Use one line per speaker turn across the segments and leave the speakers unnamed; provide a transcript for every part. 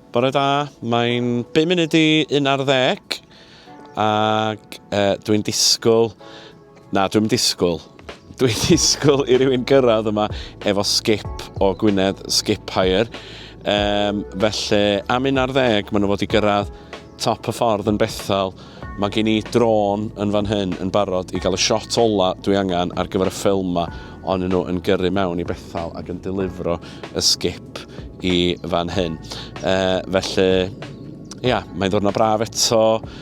Bore da, mae'n 5 munud i un ar ddeg ac e, dwi'n disgwyl, na dwi'n disgwyl, dwi'n disgwyl i rywun gyrraedd yma efo skip o Gwynedd Skip Hire. Um, felly am un ar ddeg maen nhw fod i gyrraedd Top y ffordd yn Bethel. Mae gen i drôn yn fan hyn yn barod i gael y shot ola dwi angen ar gyfer y ffilm ma, on nhw yn gyrru mewn i Bethel ac yn delifro y sgip i fan hyn. E, felly, ia, mae'n ddwrnod braf eto,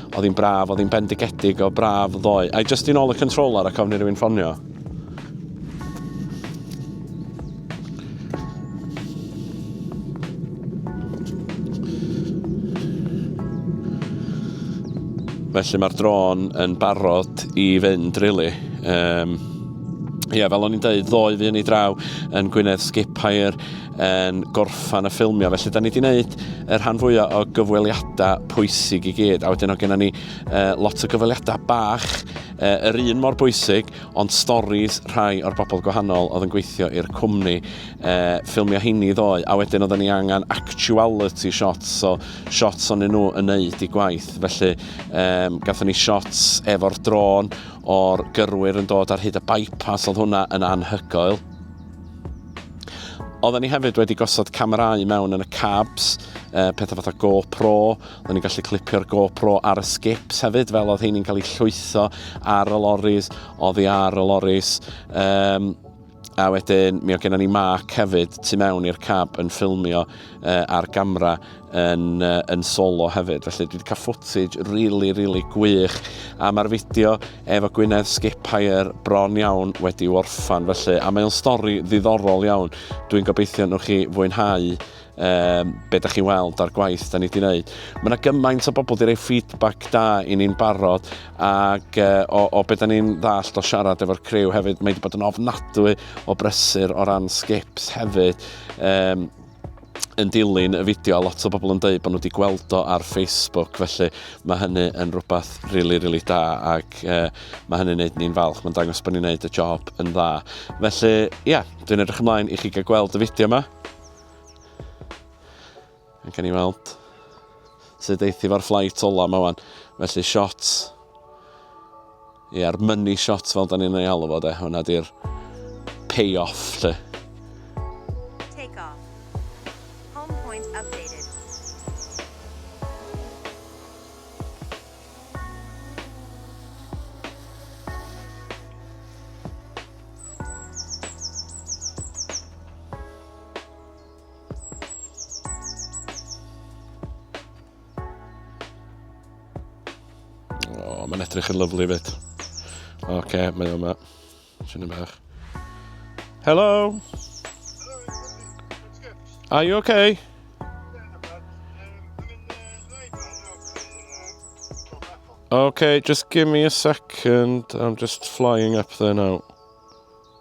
oedd hi'n braf, oedd hi'n bendigedig o braf ddoe. I just i'n ôl y controller ac ofni rhywun ffonio. Felly mae'r drôn yn barod i fynd, really. Um, Ie, yeah, fel o'n i'n dweud, ddoe fi yn ei draw yn Gwynedd Skiphair yn gorffan y ffilmio. Felly, da ni wedi gwneud y rhan fwyaf o gyfweliadau pwysig i gyd. A wedyn o gennym ni uh, lot o gyfweliadau bach E, yr un mor bwysig, ond storis rhai o'r bobl gwahanol oedd yn gweithio i'r cwmni. E, ffilmio heini ddoe, a wedyn oedden ni angen actuality shots, so shots o'n nhw yn neud i gwaith. Felly, e, gatho ni shots efo'r drôn o'r gyrwyr yn dod ar hyd y bypass, oedd hwnna yn anhygoel. Oedden ni hefyd wedi gosod camerau mewn yn y cabs, e, pethau fatha GoPro, Oedden ni'n gallu clipio'r GoPro ar y skips hefyd, fel oedd heini'n cael eu llwytho ar y loris, oddi ar y loris. Um, a wedyn mi o gennym ni Mark hefyd tu mewn i'r cab yn ffilmio uh, ar gamera yn, uh, yn solo hefyd. Felly dwi wedi cael footage really, really gwych. A mae'r fideo efo Gwynedd Skiphair bron iawn wedi orffan. Felly, a mae'n stori ddiddorol iawn. Dwi'n gobeithio nhw chi fwynhau um, be da chi'n weld a'r gwaith da ni wedi gwneud. Mae yna gymaint o bobl wedi rhoi feedback da i ni'n barod ac uh, o, o beth da ni'n ddallt o siarad efo'r criw hefyd, mae wedi bod yn ofnadwy o brysur o ran skips hefyd. Um, yn dilyn y fideo, a lot o bobl yn dweud bod nhw wedi gweld o ar Facebook, felly mae hynny yn rhywbeth rili, really, rili really da, ac uh, mae hynny'n neud ni'n falch, mae'n dangos bod ni'n neud y job yn dda. Felly, ie, yeah, dwi'n edrych ymlaen i chi gael gweld y fideo yma. Ac gen i weld sut eithi fo'r fflait ola yma wan. Felly shot, ia'r money shot fel da ni'n ei alw fod e, hwnna di'r payoff lle. Take off. Home points
updated.
O, mae'n edrych yn lyflu fyd. Oce, okay, mae yma. Swn i'n bach. Hello! Are you okay? Okay, just give me a second. I'm just flying up there now.